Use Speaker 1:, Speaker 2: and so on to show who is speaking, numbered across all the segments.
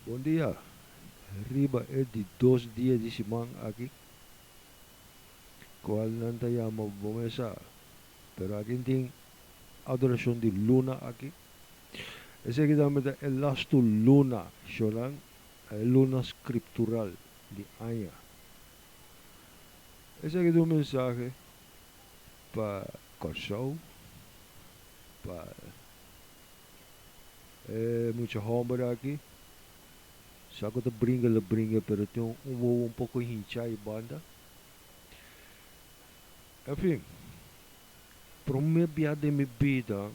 Speaker 1: Bon dia, riba e di dos dia di siman aki, cual nan ta yama bo mesa, pero aki tin adoracion di luna aki, esaki tambe ta e lastu luna, shornan, e luna scriptural di aña. Esaki ta un mensahe pa Corsou, pa E mucha homber aki sa cu ta bringa lo bringa pero tin un wowo un poco hincha y banda. En fin, prome bia den mi bida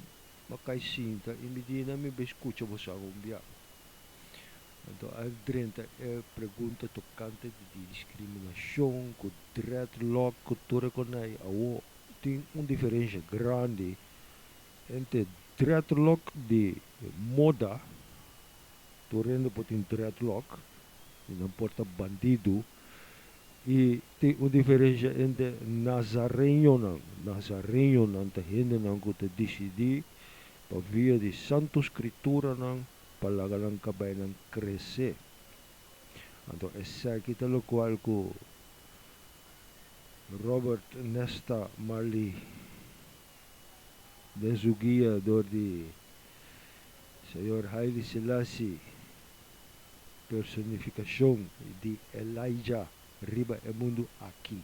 Speaker 1: mi cay sinta y mi di na mi bay scucha bo sa un bia. Enton a drenta e pregunta tocante di di discriminacion cu dreadlock cu tur e conai awo tin un diferencia grandi Ente dreadlock di moda, tur hende por tin dreadlock y nan por ta bandido y tin un diferencia entre nazareñonan, nazareñonan ta hendenan cu ta dicidi pa via di santo scriturannan pa laga nan cabainan crece, anto esaki ta locual cu Robert Nesta Marley den su guia dor di Señor Haile Selassie, personificacion di Elijah riba e mundu aki.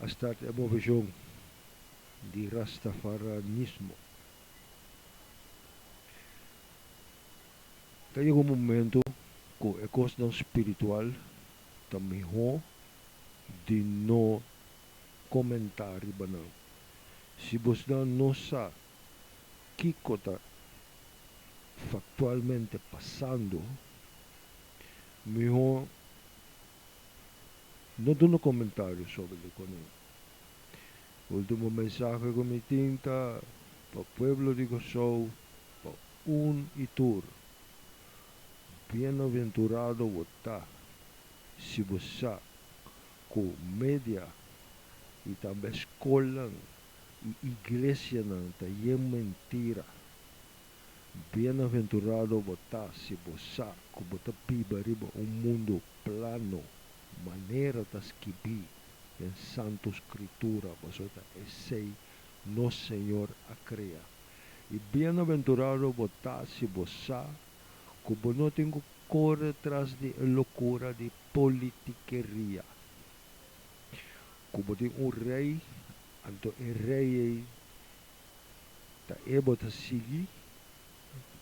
Speaker 1: A start e movejon di Rastafaranismo. Ta yega un momento cu e cosnan spiritual ta miho di no. komentá riba nan. Si bosnan no sa kiko ta faktualmente pasando, mihó no duna komentario sobre lokunan. Último mensahe ku mi tin ta pa pueblo di Kòrsou, pa un i tur, Bienaventurado bo ta si bo sa ku media i tambe skolnan i iglesianan ta yen mentira. Bienaventurado bo ta si bo sa ku bo ta biba riba un mundu plano, manera ta skibí den Santu Skritura, pasobra esei nos Señor a krea. I bienaventurado bo ta si bo sa ku bo no tin ku kore tras di e lokura di politikeria. Ku bo tin un rei, anto e rei ei ta e bo ta sigui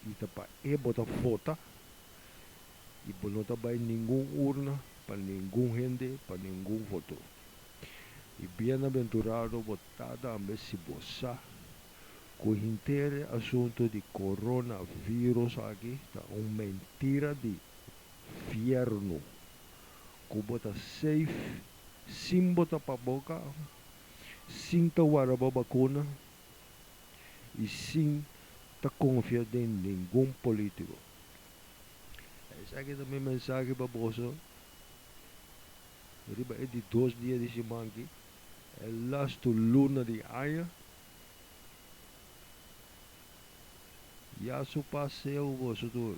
Speaker 1: i ta pa e bo ta vota, i bo no ta bai ningun urna pa ningun hende, pa ningun voto. I bienaventurado bo tata ambe si bo sa. Cu henter e asunto di corona virus aki ta un mentira di fierno cu bo ta safe sin bo tapa boca, sin ta wara bo bacuna y sin ta confia den ningun politico. Esaki ta mi mensahe pa boso riba e di dos dia di siman ki, e lastu luna di aña. Ya su paseo boso tur.